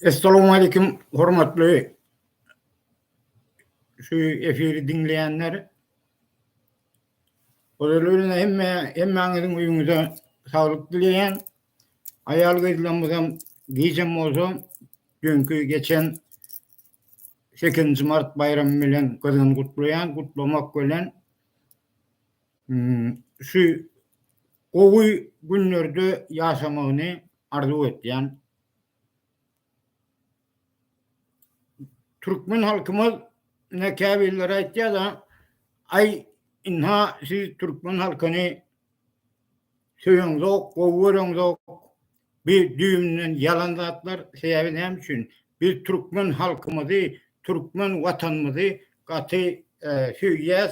Essalamu aleýkum, hormatly şu efiri diňleýänler. Olaryň hemme hemmäňiziň öýüňize saglyk dileýän. Aýal gyzlarymyzam gijäm bolsa düýnki geçen 8-nji mart baýramy bilen gyzgyn gutlaýan, gutlamak bilen Hmm, şu gowy günlerde ýaşamagyny arzuw etýän. Türkmen halkymyz ne käbirleri aýtýar da, aý inha siz türkmen halkyny söýeňzok, gowy göreňzok. Bir düýbünden ýalan zatlar. Sebäbi näme üçin? Biz türkmen halkymyzy, türkmen watanymyzy gaty e, söýýäs.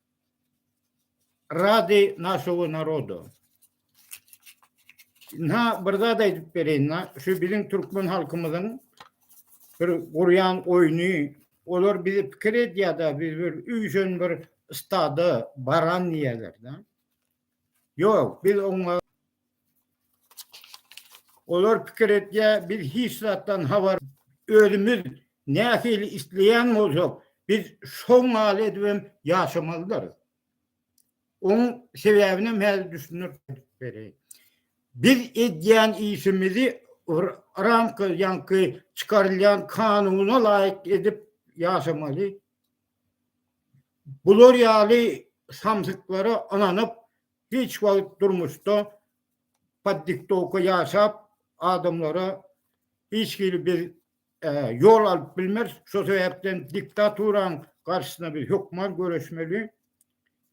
Radi našowy naroda. Na bir zat aýdyp bereýin, na şu biziň türkmen halkymyzyň bir gurýan oýny, olar bizi pikir edýär-de, biz bir üýşen bir stada baran diýýärler-de. Yok, biz oňa olar pikir etýär, biz hiç zatdan habar özümiz nähili isleýän bolsak, biz şo maly edip hem ýaşamalydarys. Oň sebäbini hem häzir düşündirip bereýin. Biz edýän işimizi ramka ýaňky çykarylýan kanuna laýyk edip ýaşamaly. Bular ýaly samsyklara ynanyp hiç wagt durmuşda pod diktowka ýaşap adamlara hiç hili biz ýol alyp bilmeris şo sebäpden diktaturaň garşysyna biz hökman göreşmeli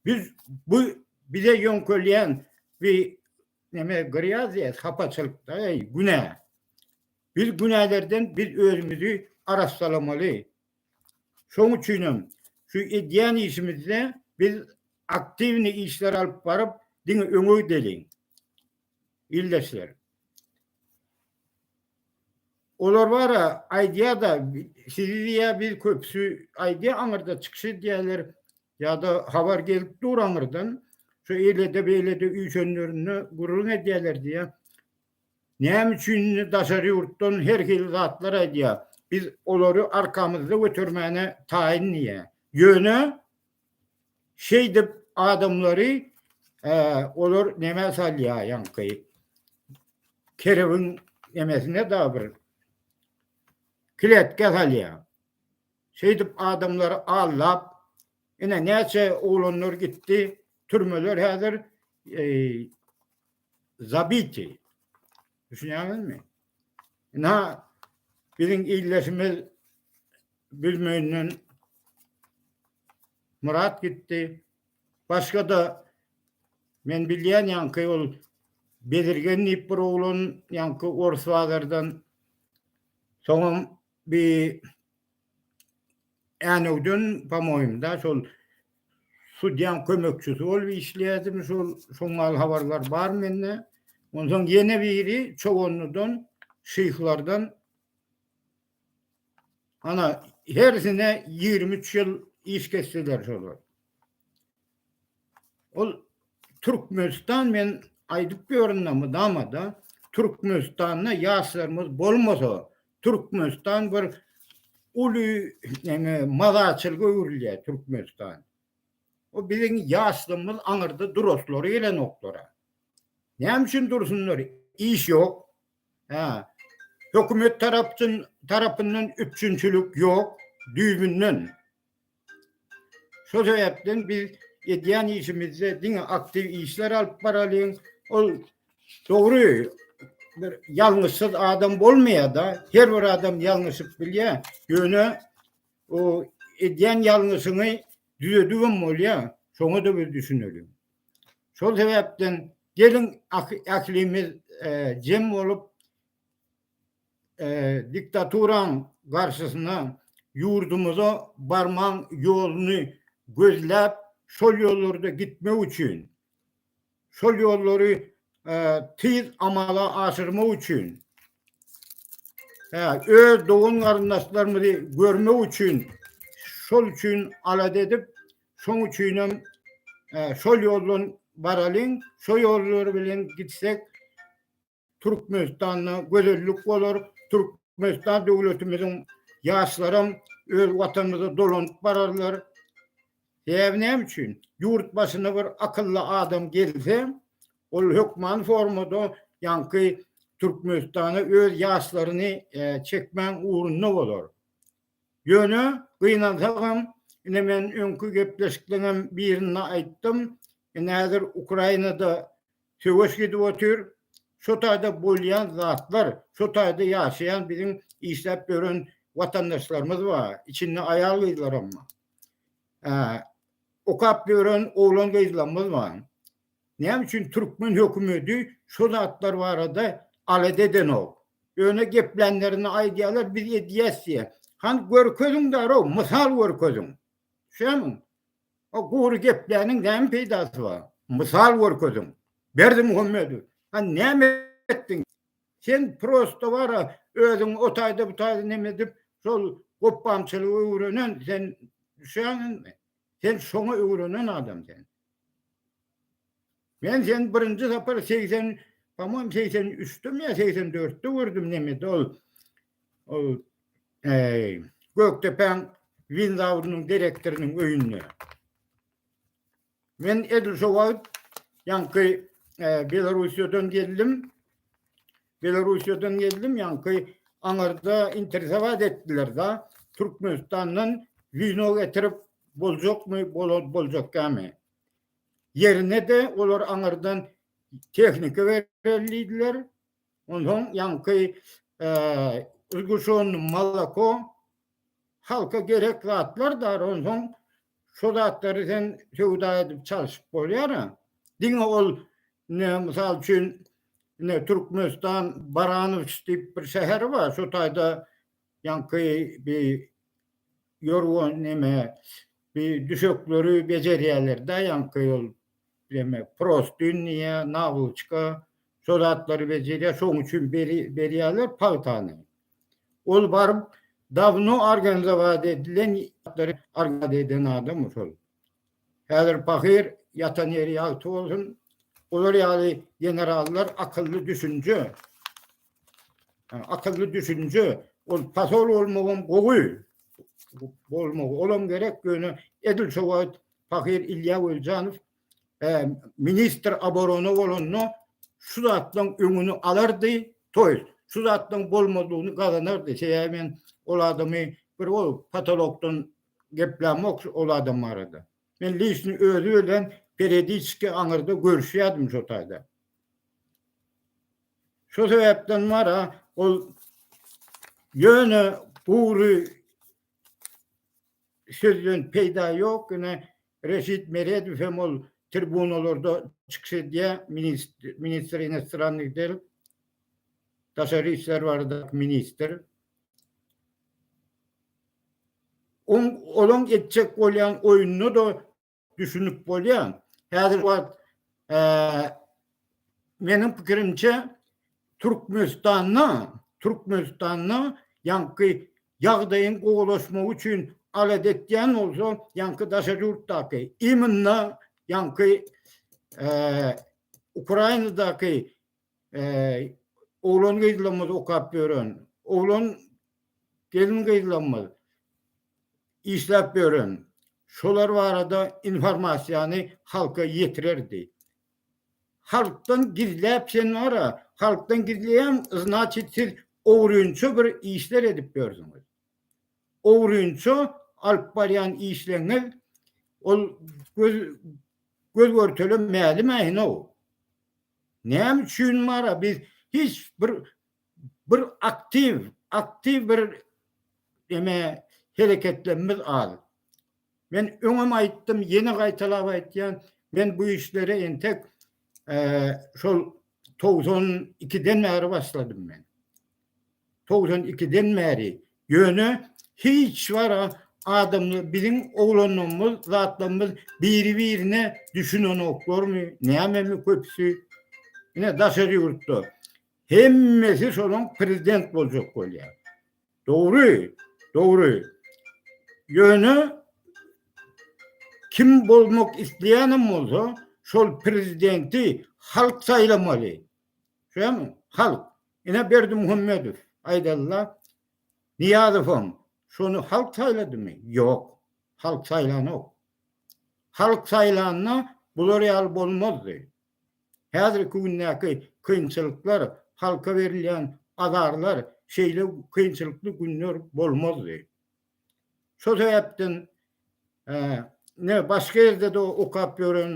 biz bu bize ýöňkelýän bi neme gyrýas diýýäs hapaçylykda günä biz günälerden biz özümizi arassalamaly Şoň üçin hem şu edýän işimizde biz aktiwnyý işler alyp baryp, diňe öňe gideliň, ildeşler. Olar bar-a, aýdýar-da, sizi diýýär, biz köpüsi aýdýar, aňyrda çykyş edýärler ýa-da habar gelip dur aňyrdan, şu eýle-de, beýle-de üýşenlerinde gürrüň edýärler diýýär. Näme üçin indi daşary ýurtdan her hili zatlar aýdýar? Biz olary arkamyzda götermäne taýyn diýýär. Ýöne şeýdip adamlary olar nämä salýar ýaňky kerewiň nemesine dagy bir kletkä salýar. Şeýdip adamlary aldap, ine näçe oglanlar gitdi, türmeler häzir zabiti. Düşünýäňizmi? Na biziň illeşimiz bilmeýinden Murat gitdi. Başga da men bilýän ýaňky ol Bezirgen diýip bir oglan ýaňky Orsbazardan soňam bi Änewden, pa-moýmda, şol sudýaň kömekçisi bolup işleýärdim, şol şoň mal habarlar bar mende. Onsoň ýene biri Çoganlydan, şyhlardan, ana, hersine ýigrimi üç ýyl iş kesdiler şolar. Ol Türkmenistan men aýdyp ýörün-de mydama-da, Türkmenistanda ýaşlarymyz bolmasa, Türkmenistan bir uly neňe mazaçylga öwrülýär Türkmenistan. O biziň ýaşlygymyz aňyrda duraslary gelenoklar-a. Näme üçin dursunlar? Iş ýok. Hä. Hökümet tarapçyn tarapyndan üpjünçilik ýok düýbünden. Şol sebäpden biz edýän işimizde diňe aktiw işler alyp baralyň. Ol dogry bir ýalňyşsyz adam bolmaýar-da, her bir adam ýalňyşyp bilýär. Ýöne o edýän ýalňyşyňy düzedip hem bolýar. Şoňa da biz düşüneliň. Şol sebäpden geliň ählimiz e, jem bolup diktaturaň garşysyna ýurdumyza barmaň ýoluny gözläp, şol ýollarda gitmek üçin, şol ýollary tiz amala aşyrmak üçin, öz dogan-garyndaşlarymyzy görmek üçin, şol üçin alada edip, şoň üçinem şol ýoldan baralyň, şo ýollar bilen gitsek, Türkmenistanda gözellik bolar, Türkmenistan döwletimiziň ýaşlaram öz watanymyza dolanyp bararlar. Sebäbi näme üçin? Ýurt başyna bir akylly adam gelse, ol hökman formada ýaňky Türkmenistana öz ýaşlaryny çekmäň ugrunda bolar. Ýöne gynansagam, ine men öňki gepleşikleriňem birinde aýtdym, ine häzir Ukrainada Söweş gidip otyr. Şo taýda bolýan zatlar, şo taýda ýaşaýan biziň işläp ýören watandaşlarymyz bar. Içinde aýal-gyzlaram bar. Hä, okap ýören oglan-gyzlarymyz bar. Näme üçin türkmen hökümeti şo zatlar barada alada edenok? Ýöne geplänlerinde aýdýarlar, biz edýäs diýýär. Hany görkeziň darag, mysal görkeziň. Düşýärmiň? O gury gepläniň näme peýdasy bar? Mysal görkeziň. Berdimuhammedow, a näme etdiň? Sen prosto bara özüň o taýda bu taýda näme edip şol gopbamçylygy öwrenen sen düşäňizmi? Sen şoňa öwrenen adam sen. Men seni birinji sapar segsen, pomon segsen üçdemi ýa segsen dörtde gördüm nemede ol. Ol eý, Gökdepäň winzawrynyň direktorynyň öýünde. Men edil şo wagt ýaňky e, Belarusiýadan geldim. Belarusiýadan geldim ýaňky aňarda interesowat etdiler da Türkmenistandan wino getirip boljakmy, bolar boljakmy? ýerine-de olar aňyrdan tehnika berer diýdiler. Onsoň ýaňky ulguşan malako halka gerek zatlar da onsoň şo zatlary sen söwda edip çalşyp bolýar-a. Diňe ol ne mysal üçin ne Türkmenistan Baranowsk diýip bir şäheri bar, şo taýda Ýaňky bi ýorgan neme bi düşekleri bejerýärler-dä ýaňky ol neme prostün diýýä, nawluçka şo zatlary bejerýär, şoň üçin beri berýärler pagtany. Ol baryp dawno organizowat edilen zatlary organizowat eden adam şol. Häzir pahyr ýatan ýeri ýagty bolsun. Olar ýaly generallar akylly düşünje. Akylly düşünje ol pasol bolmagam gowy. Bolmagy olam gerek ýöne edil şo wagt pahyr Ilýa Weljanow ministr aborona bolanda şu zatlaryň öňüni alardy, toýs şu zatlaryň bolmazlygyny gazanardy. Sebäbi men ol adamy bir ol patolokdan geplämok ol adam barada. Men liçni özi bilen perediçki aňyrda görüşýädim şo taýda. Şo sebäpden bara ol ýöne gury sözden peýda ýok, ine Reşit Meredow hem ol tribunalarda çykyş edýär, ministr inostrannıh del, daşary işler baradaky ministr. Oň olaň etjek bolýan oýunyna-da düşünip bolýar. Häzirki wagt meniň pikirimçe Türkmenistanda, Türkmenistanda ýaňky ýagdaýyň gowulaşmagy üçin alada etýän bolsa ýaňky daşary ýurtdaky, imенно ýaňky Ukrainadaky oglan-gyzlarymyz okap ýören, oglan gelin-gyzlarymyz işläp ýören şolar barada informasiýany halka ýetirerdi. Halkdan gizläp sen wara, halkdan gizleýäň, znaçit siz ogrynça bir işler edip ýörsüňiz. Ogrynça alyp barýan işleriňiz ol göz görtele mälim-ä inow. Näme üçin mara biz hiç bir bir aktiw aktiw bir eme hereketlerimiz az. Men öňem aýtdym, ýene gaýtalap aýtýan, men bu işlere entek şol 92-den bäri başladym men. togsan ikiden bäri, ýöne hiç wara adamlar biziň oglanlarymyz zatlarymyz biri birine düşünenoklarmy nämemi köpüsi ine daşary ýurtda hemmesi şolaň prezident boljak bolýa dogry dogry ýöne kim bolmak isleýänem bolsa şol prezidenti halk saýlamaly Şoň halk, ine Berdimuhamedow, Aýdalla Nyýazowam, şony halk saýladymy? Ýok, halk saýlanok. Halk saýlanda bular ýaly bolmazdy. Häzirki gündäki kynçylyklar, halka berilýän azarlar, şeýle kynçylykly günler bolmazdy. Şol sebäpden ne başga ýerde de okap ýören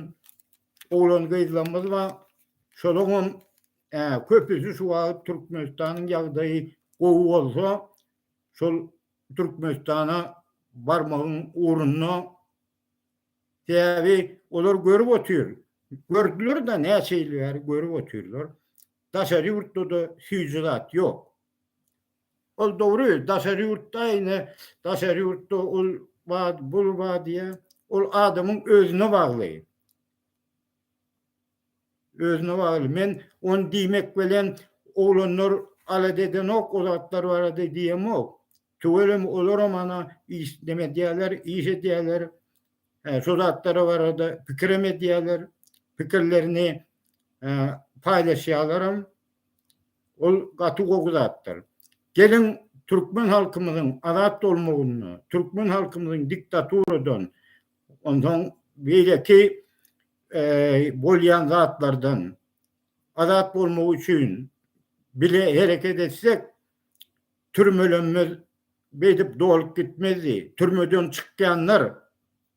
oglan-gyzlarymyz bar. Şolaryň hem köpüsi şu wagt Türkmenistanyň ýagdaýy gowy bolsa, şol Türkmenistana barmagyň ugrunda. Sebäbi olar görüp otyr. Gördüler-de, näçe ýyl bäri görüp otyrlar. Daşary ýurtda-da süýji zat ýok. Ol dogry, daşary ýurtda ine, daşary ýurtda ol bar, bul bar diýýä. Ol adamyň özüne bagly. Özüne bagly. Men ony diýmek bilen oglanlar alada edenok o zatlar barada diýemok. Tüweleme olaram ana iş neme edýärler, iş edýärler. Hä, şo zatlar barada pikirem edýärler. Pikirlerini paýlaşýarlaram. Ol gaty gowy zatdyr. Geliň türkmen halkymyzyň azat bolmagynda, türkmen halkymyzyň diktaturadan, onsoň beýleki bolýan zatlardan azat bolmagy üçin bile hereket etsek, türmelerimiz beýdip dolup gitmezdi. Türmeden çykýanlar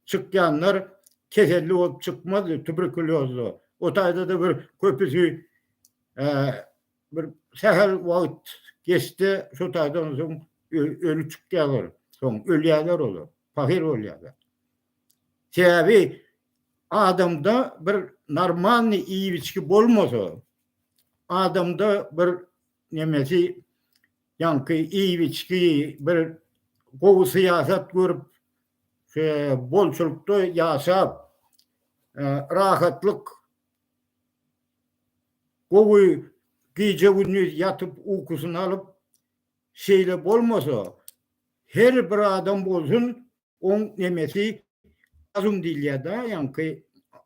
çykýanlar keselli bolup çykmazdy, tuberkuliozly. O taýda-da bir köpüsi bir sähel wagt geçse, şo taýda ondan soň öli çykýarlar. Soň ölýärler olar, pahyr bolýarlar. Sebäbi adamda bir normalny iýip-içki bolmasa, adamda bir nemesi, ýaňky iýip-içki, bir gowy syýasat görüp, bolçulykda ýaşap, rahatlyk, gowy gije-gündiz ýatyp ukusyny alyp, şeýle bolmasa, her bir adam bolsun, oň nemesi razum diýilýär-dä, ýaňky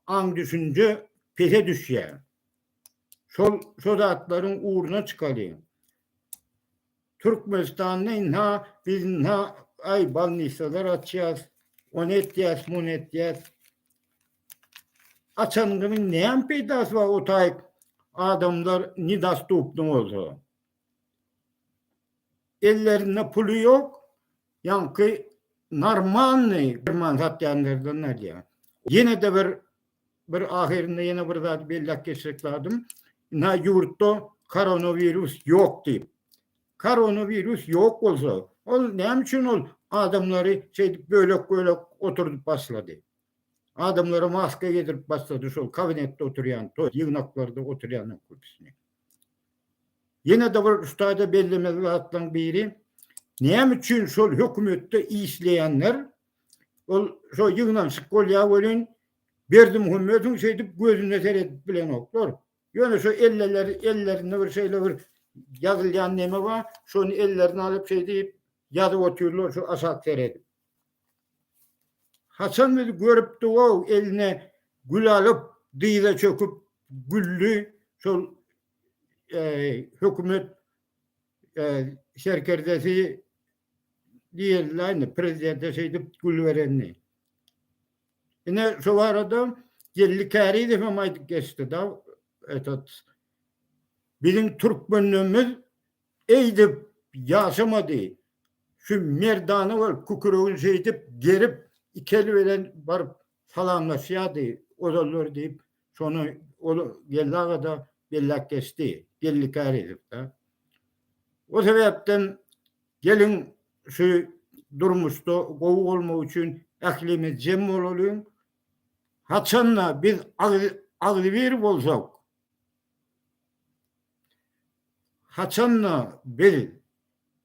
aň-düşünje pese düşýär. Şol zatlaryň ugruna çykalyň. Türkmenistanda ynha biz ynha aý balnisalar açýas, ony etýäs, muny etýäs. Açanyňyzyň näme peýdasy bar o taýyp adamlar nedostupny bolsa. Ellerinde puly ýok, ýaňky normalnyý derman satýanlardan alýar. Ýene-de bir Bir ahyrynda ýene bir zady belläp geçjek zadym, ina ýurtda koronawirus ýok diýip. Koronawirus ýok bolsa, ol näme üçin ol adamlary şeýdip bölek-bölek oturdyp başlady? Adamlara maska geýdirip başlady şol kabinetde oturýan, toý ýygnaklarda oturýanlaryň köpüsini. Ýene-de bir şutaýda bellemeli zatlaryň biri, näme üçin şol hökümetde işleýänler Ol şo ýygnanyşyk bolýar welin, Berdimuhamedowyň şeýdip gözüne seredip bilenoklar. Ýöne şo elleleri, ellerinde bir şeýle bir ýazylýan neme bar, şony ellerine alyp şeýdip ýazyp otyrlar şu aşak seredip. Haçan bizi görüpdi-ow, eline gül alyp, dyza çöküp güldi şol hökümet serkerdesi diýildi indi prezidente şeýdip gül berenini. Ine şu barada Geldi Kärizow hem aýdyp geçdi da etat biziň türkmenlerimiz eýdip ýaşamady. Şu merdana bol küküregini şeýdip gerip iki eli bilen baryp Salamlaşýardy, ozallar diýip, şony ol Geldi aga-da belläp geçdi. Geldi Kärizow-da. O sebäpden geliň şu durmuşda gowy bolmak üçin ählimiz jem bolalyň. Haçan-da biz agzybir bolsak, haçan-da biz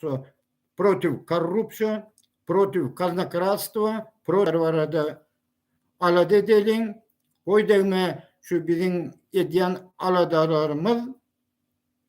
Konstitusiýa, protiv korrupsiýa, protiv kaznokrastwa, protiv barada alada edeliň. Goý degme şu biziň edýän aladalarymyz